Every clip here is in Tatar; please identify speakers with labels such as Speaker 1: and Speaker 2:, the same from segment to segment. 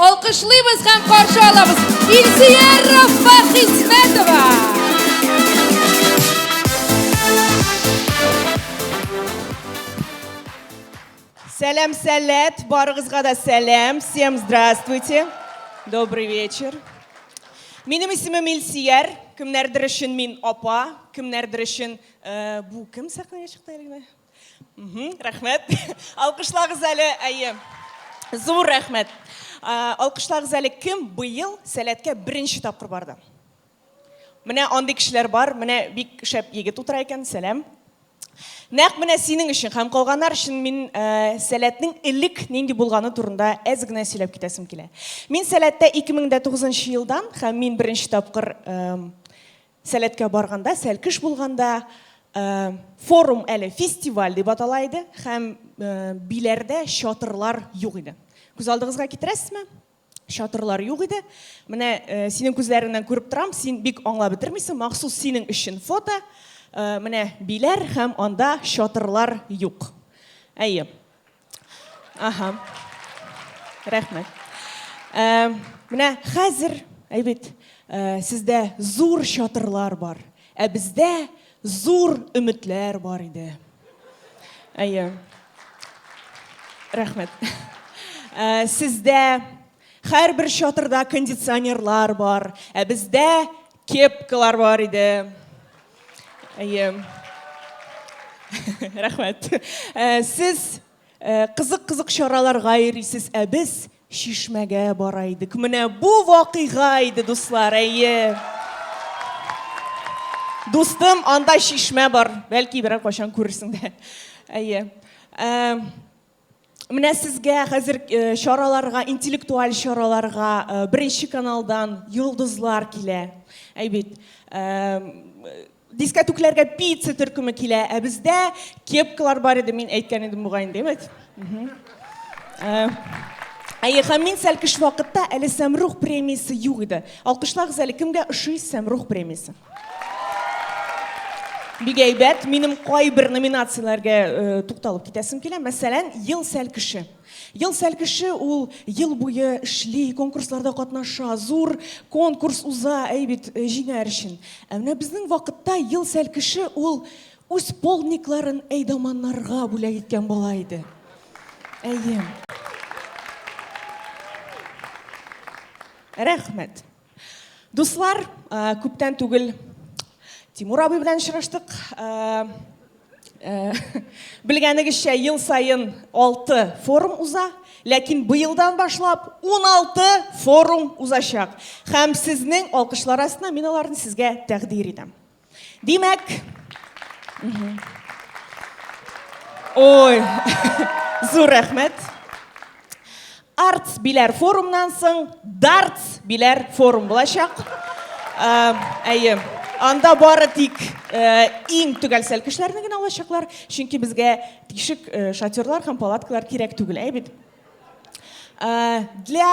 Speaker 1: Алкышлыйбыз һәм каршы алабыз Илсөя Рафа Хисмәтова. Сәлам, сәләт, барыгызга да сәлам. Всем здравствуйте. Добрый вечер. Минем исемем Илсияр, кемнәрдер өчен мин апа, кемнәрдер өчен э, бу кем сәхнәгә чыкты әле? рәхмәт алкышлагыз әле әйе зур рәхмәт алкышлагыз әле кем быел сәләткә беренче тапкыр барды менә андый кешеләр бар менә бик шәп егет утыра икән сәлам нәкъ менә синең өчен һәм калганнар өчен мин ә, сәләтнең элек нинди булганы турында әз генә сөйләп китәсем килә мин сәләттә 2009 елдан һәм мин беренче тапкыр ә, Сәләткә барганда, сәлкеш булганда форум әле фестиваль дип атала иде һәм биләрдә чатырлар юк иде. Күз алдыгызга китерәсезме? Чатырлар юк иде. Менә синең күзләреңнән күреп торам, син бик аңлап бетермисең, махсус синең өчен фото. Менә биләр һәм анда чатырлар юк. Әйе. Аһа. Рәхмәт. Э, менә хәзер, әйбит, э, сездә зур чатырлар бар, ә бездә зур өметләр бар иде. Әйе. Рәхмәт. Э, сездә һәрбер чатырда кондиционерлар бар, ә бездә Кепкалар бар иде. Әйе. Рәхмәт. Э, сез э, кызык-кызык чараларга йөрисез, ә без чишмәгә бара идек. Менә бу вакыйга иде, дуслар, әйе. Дустым, анда чишмә бар. Бәлки берәр кайчан күрерсең дә. Әйе. Э, Менә сезгә хәзер э, чараларга, интеллектуаль чараларга э, беренче каналдан йолдызлар килә. Әйбит. Э, дискотекләргә пицца төркеме килә, ә бездә кепкалар бар иде, мин әйткән идем бугай инде, әйбит. Әйе, һәм мин сәл кыш вакытта әле Сәмрух премиясе юк иде. Алкышлагыз әле кемгә ошый Сәмрух премиясе? Бик әйбәт. Минем кайбер номинацияләргә тукталып китәсем килә. Мәсәлән, Ел сәл кеше. Ел сәл кеше ул ел буе эшли, конкурсларда катнаша, зур конкурс уза, әй бит, җиңәр өчен. Ә менә безнең вакытта Ел сәл кеше ул үз полдникларын әйдаманнарга бүләк иткән бала иде. Әйе. Рәхмәт. Дуслар, күптән түгел Тимур абый белән очраштык. Белгәнегезчә, ел саен 6 форум уза, ләкин быелдан башлап 16 форум узачак. Һәм сезнең алкышлар астына мин аларны сезгә тәкъдир итәм. Димәк, Ой, зур рәхмәт. Артс биләр форумнан соң дартс биләр форум булачак. Ә, әйе, анда бары тик ә, иң төгәлсәл кешеләрне генә алачаклар, чөнки безгә тишек ә, шатерлар һәм палаткалар кирәк түгел, әйе бит? Ә, для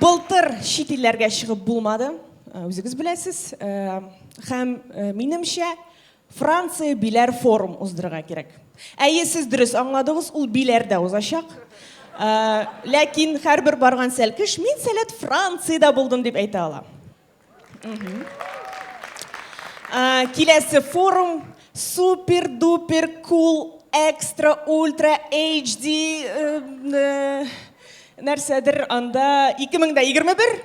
Speaker 1: Былтыр чит илләргә чыгып булмады, үзегез беләсез. Һәм минемчә, Франция Биләр форум уздырырга кирәк. Әйе, сез дөрес аңладыгыз, ул Биләрдә узачак. Ләкин һәрбер барган сәлкеш, мин сәләт Франциядә булдым дип әйтә ала. Киләсе форум супер дупер кул экстра ультра HD нәрсәдер анда 2021.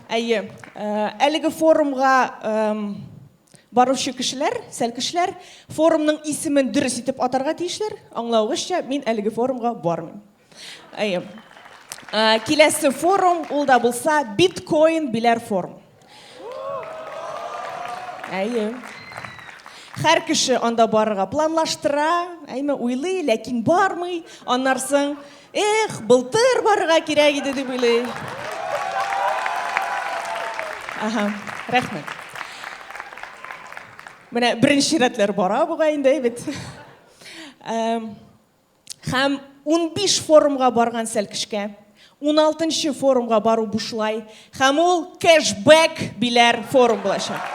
Speaker 1: Әйе. Әлеге форумга баручы кешеләр, сәлкешләр форумның исемен дөрес итеп атарга тиешләр. Аңлавыгызча, мин әлеге форумга бармыйм. Әйе. Киләсе форум, ул да булса биткоин биләр форум. Әйе. Хәр кеше анда барырга планлаштыра, әйме уйлый, ләкин бармый. Аннарсың, эх, былтыр барырга кирәк иде дип уйлый. Ага, рәхмәт. Менә беренче рәтләр бара буга инде, әйбәт. Һәм унбиш форумга барган Сәлкешкә уналтынчы форумга бару бушлай, һәм ул кэшбэк биләр форум булачак.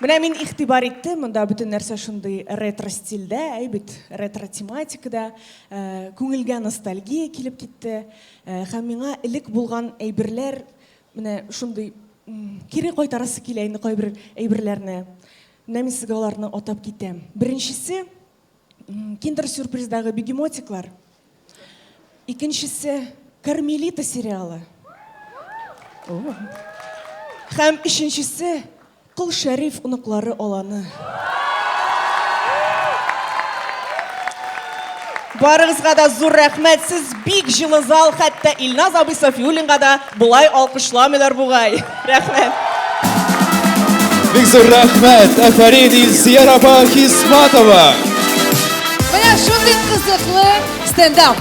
Speaker 1: Менә мин игътибар иттем, монда бөтен нәрсә шундый ретро стильдә, әй бит, ретро тематикада, күңелгә ностальгия килеп китте. Һәм миңа элек булган әйберләр Менә шундый кире кайтарасы килә инде кайбер әйберләрне. Менә мин сезгә аларны атап китәм. Беренчесе Киндер сюрприздагы бегемотиклар. Икенчесе Кармелита сериалы. Һәм өченчесе Кол Шәриф оныклары аланы. Барыгызга да зур рәхмәт, сез бик җылы зал, хәтта Илназ абый Сафиуллинга да болай алкышламыйлар бугай. Рәхмәт. Бик зур рәхмәт, әфәрин Илсияр апа Хисматова. Менә шундый кызыклы стендап.